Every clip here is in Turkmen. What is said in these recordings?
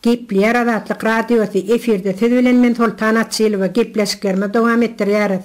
Gepleýär Azatlyk Radiosy, efirde siz bilen men Soltan Açylowa gepleşiklerimizi dowam etdirýäris.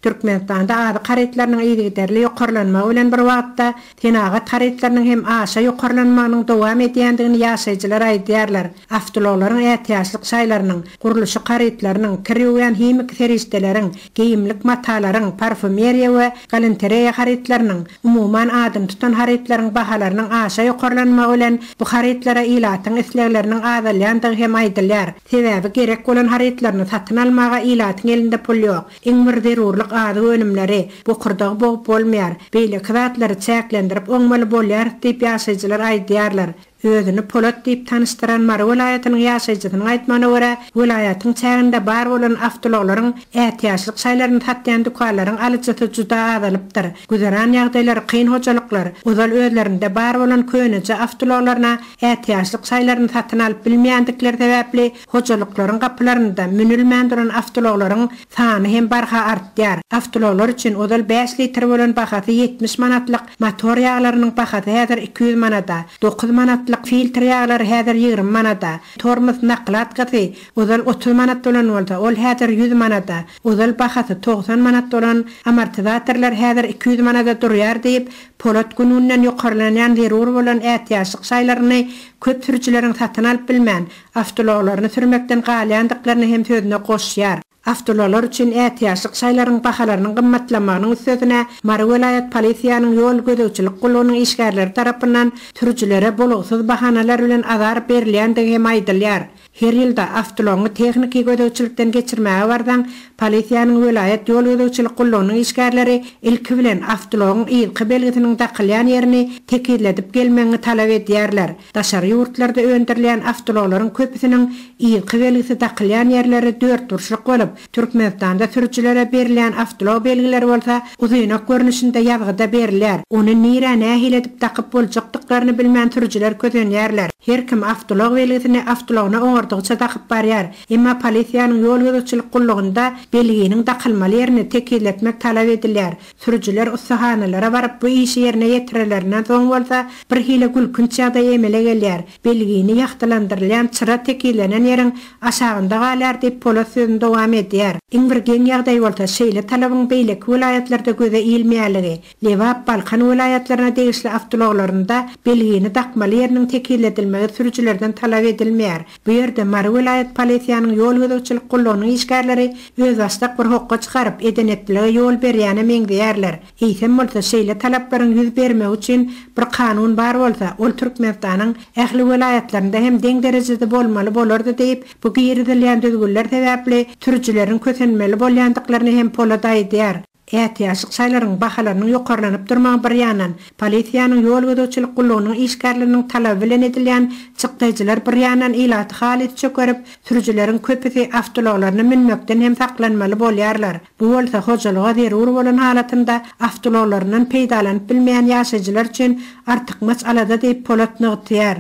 Türkmenistanda azyk harytlarynyň yzygiderli ýokarlanmagy bilen bir wagtda senagat harytlarynyň hem aşa ýokarlanmagynyň dowam edýändigini ýaşaýjylar aýdýarlar, awtoulaglaryň ätiýaçlyk şaýlarynyň, gurluşyk harytlarynyň, kirügen himiki serişdeleriň, geýimlik matalaryň, parfumeriýa we galantereýa harytlarynyň, umuman adyny tutan harytlaryň bahalarynyň aşa ýokarlanmagy bilen bu harytlara ilatyň islegleriniň azalýandygy hem aýdylýar, sebäbi gerek bolan harytlaryny satyn almaga ilatyň elinde pul ýok, iň bir zerurlyk azyk önümleri, bokurdagy bogup bolmaýar, beýleki zatlary çäklendirip oňmaly bolýarys diýip ýaşaýjylar aýdýarlar. Özüni Polat diýip tanyşdyran Mary welaýatynyň ýaşaýjysynyň aýtmagyna görä, welaýatyň çäginde bar bolan awtoulaglaryň, ätiýaçlyk şaýlaryny satýan dükanlaryň alyjysy juda azalypdyr. Güzeran ýagdaýlary kyn hojalyklar ozal özlerinde bar bolan köneje awtoulaglaryna ätiýaçlyk şaýlaryny satyn alyp bilmeýändikleri sebäpli, hojalyklaryň gapylarynda münülmän duran awtoulaglaryň sany hem barha artýar. Awtoulaglar üçin ozal bäş litr bolan bahasy ýetmiş manatlyk motor ýaglarynyň bahasy häzir iki ýüz manada, dokuz manatlyk filtr ýaglary häzir ýigrimi manada, tormoz nakladkasy ozal otuz manat bolan bolsa, ol häzir ýüz manada, ozal bahasy togsan manat bolan amortizatorlar häzir iki ýüz manada durýar diýip, Polat gün-günden ýokarlanýan zerur bolan ätiýaçlyk şaýlaryny köp sürüjileriň satyn alyp bilmän, awtoulaglaryny sürmekden galýandyklaryny hem sözüne goşýar. Awtoulaglar üçin ätiýaçlyk şaýlaryň bahalarynyň gymmatlamagynyň üstesine, Mary welaýat polisiýanyň ýol gözegçilik gullugynyň işgärleri tarapyndan sürüjilere bolugsyz bahanalar bilen azar berilýändigi hem aýdylýar. Her ýylda awtoulagyňy tehniki gözegçilikden geçirmäge barsaň, polisiýanyň welaýat ýol gözegçilik gullugynyň işgärleri ilki bilen awtoulagyň yzky belgisiniň dakylýan ýerini tekizledip gelmegiňi talap edýärler. Daşary ýurtlarda öndürilýän awtoulaglaryň köpüsiniň ýygy belgisi dakylýan ýerleri dörtburçluk bolup, Türkmenistanda sürüjilere berilýän awtoulag belgileri bolsa uzynak görnüşinde ýazgyda berilýär, ony nirä nähili edip dakyp boljakdyklaryny bilmän sürüjiler kösenýärler. Her kim awtoulag belgisini awtoulagyna oňardygyça dakyp barýar, emma polisiýanyň ýol gözegçilik gullugynda belginiň dakylmaly ýerini tekizletmek talap edilýär, Sürüjiler ussahanalara baryp bu işi ýerine ýetirelerinden soň bolsa birhili gülkünç ýagdaý emele gelýär, belgini ýagtylandyrylýan çyra tekizlenen ýeriň aşagynda galýar diýip, Polat sözüni dowam edýär. Iň bir geň ýagdaý bolsa şeýle talabyň beýleki welaýatlarda göze ilmeýänligi, Lebap, Balkan welaýatlaryna degişli awtoulaglarynda belgini dakmaly ýeriniň tekizledilmegi sürüjilerden talap edilmeýär, Bu ýerde Mary welaýat polisiýanyň ýol gözegçilik gullugynyň işgärleri özbaşdak bir hokga çykaryp, edeneplilige ýol berýäne meňzeýärler. Eýsem bolsa, şeýle talaplaryň ýüz bermegi üçin bir kanun bar bolsa, ol Türkmenistanyň ähli welaýatlarynda hem deň derejede bolmaly bolardy diýip, bu girizilýän düzgünler sebäpli sürüjileriň kösenmeli bolýandyklaryny hem Polad aýdýar. Ätiýaçlyk şaýlaryň bahalarynyň ýokarlanyp durmagy bir ýandan, polisiýanyň, ýol gözegçilik gullugynyň işgärleriniň talaby bilen edilýän çykdaýjylar bir ýandan ilaty halys çökerip, sürüjileriň köpüsi awtoulaglaryna münmekden hem saklanmaly bolýarlar. Bu bolsa hojalyga zerur bolan halatynda awtoulaglaryndan peýdalanyp bilmeýän ýaşaýjylar üçin artykmaç alada diýip, Polat nygtýar.